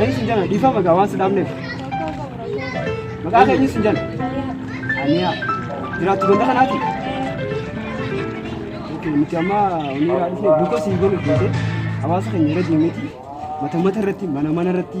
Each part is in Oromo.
Eenyu sin jana dhiifama gaa waan si dhaabneef. Maqaa kee eenyu sin jana? Aniyaa. Jiraattu ganda kanaati? Okay, nuti amma oniyaa dhufne buuka sii godhu jeete hawaasa keenya irra deemeti mata mata irratti mana mana irratti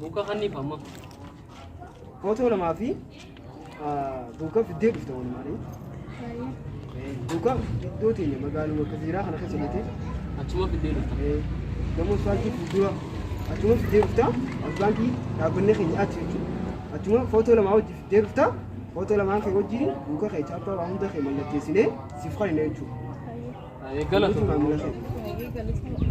Buukaa hanniif amma. Footoo lamaa fi buukaaf iddoo dhufte wal maalee. Buukaaf iddoo teenya magaaluma akka seeraa kana keessa jettee. Achuma fiddee dhufta. Gamoo isfaaltii fuuldura achuma fiddee dhufta. Isfaaltii dhaabbannee keenya achi jechuudha. Achuma footoo lamaa wajjin fiddee dhufta. Footoo lamaan kee wajjin buuka kee chaappaa waa hunda kee mallatteessinee siif kan hin jechuudha. Galatooma. Maamila kee.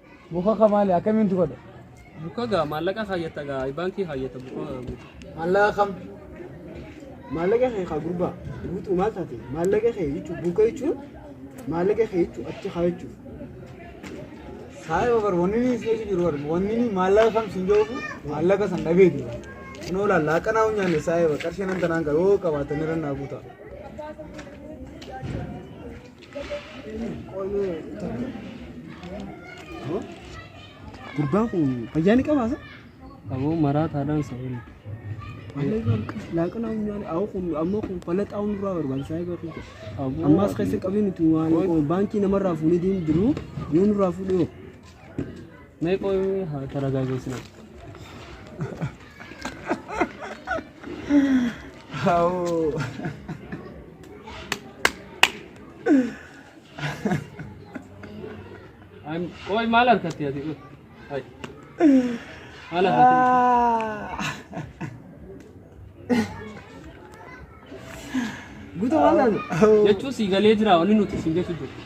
Buka ka maali akkamiin tu godha? Buka gaa maallaqa kaayyata gaa baankii kaayyata buka. Maallaqa kam? Maallaqa kee kaa gurbaa guutuu maal taate? Maallaqa kee jechuun buka jechuun maallaqa kee jechuun achi kaa jechuun. Saayee obar wanni ni seetu jiru bar wanni ni maallaqa kam sin joofu maallaqa san dhabee jiru. Kunoo laallaa qanaa hunyaanne saayee bar qarshii nan tanaan gaa yoo qabaatan irra naa guutaa. Gurbaan kun fayyaa ni qabaa sa? Aboo maraa taadhaan sa'oon. Laaqana humnaan awwa kun ammoo kun falaxaa hunduraa barbaachisaa egaa kun. Ammaas keessa qabiin itti waan baankii namarraa fuunee deemu jiru yoo nurraa fuudhee hoo. Mee qoy haa taragaageessina. Haawoo. Am- Qoy maal harkatti ati qoy? Hai. Maal harkatti? Guutuu waan taate. Jechuun sii galee jira wanni nuti siin jechuu jiru.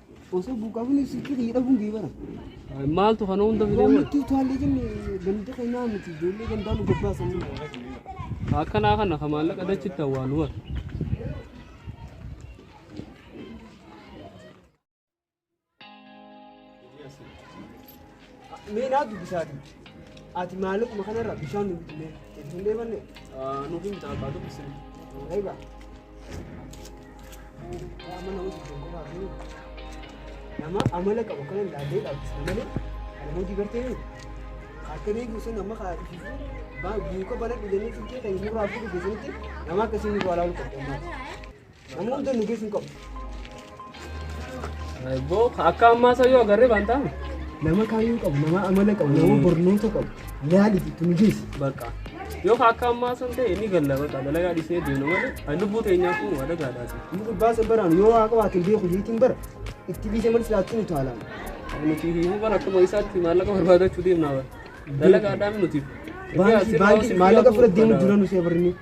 Osoo buqqaafni sitti hidhamuun geebara. Maaltu kana hunda fidee Waan nuti utaalee jenne ganda keenyaa miti ijoollee gandaa nu gabbaasan. akkanaa kana ka maallaqa dachitti awwaalu bar. Mee naa dubbisaati. Ati maallaquma kanarra bishaan nu bitnee itti hin deemanne. Nuuf hin bitaa baatu bisin. Egaa. Yaa mana hojii kan qofaa fi nama amala qabu kanan laallee dhaabbisu malee kan hojii gartee ni akka deebiin sun amma kaa dhiisu buuka bana dhuganii fikkee kan hin murraa fi dhugeessanitti nama akkasii nurraa laalu qabdu ammaati. Nama hunda nu geessu hin qabu. Boo akka ammaa isa yoo agarree baan taa'ame. Nama kaayyoo qabu, nama amala qabu, nama barnoota qabu. Yaali itti nu geessi. Bakka. Yoo akka ammaa san ta'e ni galla bakka dalagaa dhiisnee deemna malee kan lubbuu teenyaa kun waa dagaadhaati. Inni gubbaa san baraan yoo waa qabaate hin beeku jeetiin bara. Itti biisee malee silaatti nu taalaan. Nuti himuu bara akkuma isaatti maallaqa barbaadachuu deemna bara. Dalagaadhaan nuti. Baankii baankii maallaqa fudhate deemu dura nu seebarnee.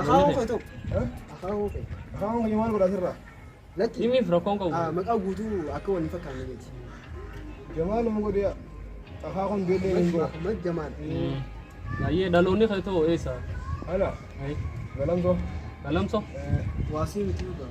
Akaawoo kee ta'u. Akaawoo kee. Akaawoo kee maal godhaa sirraa? Lakki. Himiif rakkoon qabu. Ah, Maqaa guutuu akka wal hin fakkaanne miti. Jamaal nama godhee akaakoon beellee hin godhu. Ahmad Jamaal. Ayyee dhaloonni kee ta'u eessa? Ana Ayi. galamsoo. Galamso. Waasii miti dhugaa.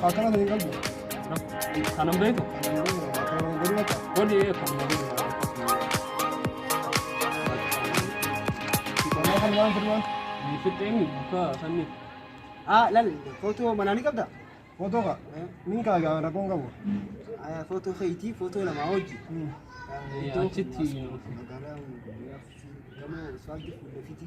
Akana dari kamu. Tanam beku. Kodi ya kamu. Kamu kan wan firman. Fiteng ke sani. Ah lal foto mana ni kabda? Foto ka? Ni ka ga na kon kamu. Ah foto ke iti foto nama oji. Itu citi. Kamu swagi fiti.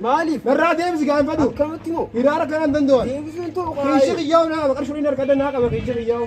Maaliif? Narraa deemsi gaanfadhu. Akkamitti moo? Hiraara kanaan danda'an. Deebisuun toluu Keessa qiyyaa'u naa qaba. Qarshii waliin harka adda naa qaba. Keessa qiyyaa'u.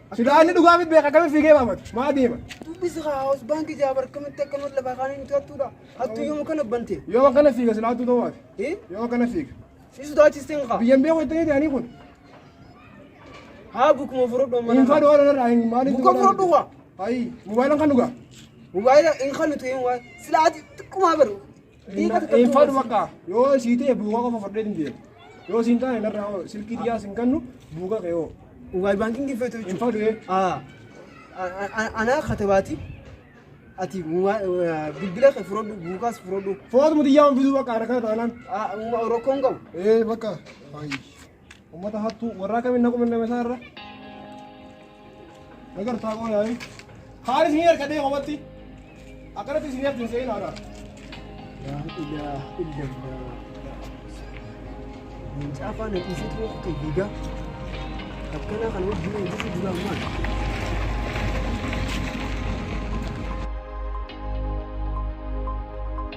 Silaa inni dhugaa miti beeka akkamitti fiigee waamatu? Maa deema? Dubbisi haa hawaas baankii jaaba akkamitti akkanumatti lafaa kaanii nuti hattuudha. Hattuu yommuu kana bante. Yoo akkana fiiga silaa hattuu ta'uu ati. Eh? Yoo akkana fiiga. Si sodaachistee hin kaa. Biyyan beeku itti jedhanii kun. Haa bukuma furudhu Hin mana. fadhu waan irraa hin maaliif. Buka furudhu waa. Ayi, mobaayila kan dhugaa. Mobaayila hin kanutu hin waa. Silaa ati xiqqumaa baru. Hin fadhu bakka yoo sii ta'e buugaa qofa fudhee hin deemu. Yoo siin taane narraa hoo silkii dhiyaa sin kennu buugaa kee hoo. Mobaayil baankiin giffeetu Hin fadhu ee. Ah, a- a- anaa katabaati ati muwaa- eh, bilbila kee fudhadhu buukaas fudhadhu Footuma xiyyaa hin fiduu bakka harkaa taanaan. Ah, rakkoon qabu Ee bakka. Ayi. Ummata hattuu warraa kamiin naquu danda'ame isaa irra. Nagartaa qoo yaa'ii. Kaan isin harkatee qofatti. Akkanatti isin harkatee hin se'in aadaa. Yaa ilaah illallah. Mucaa faana dhiisee ture kutte diigaa. Akkana kan wajjin eeguutu dura maal?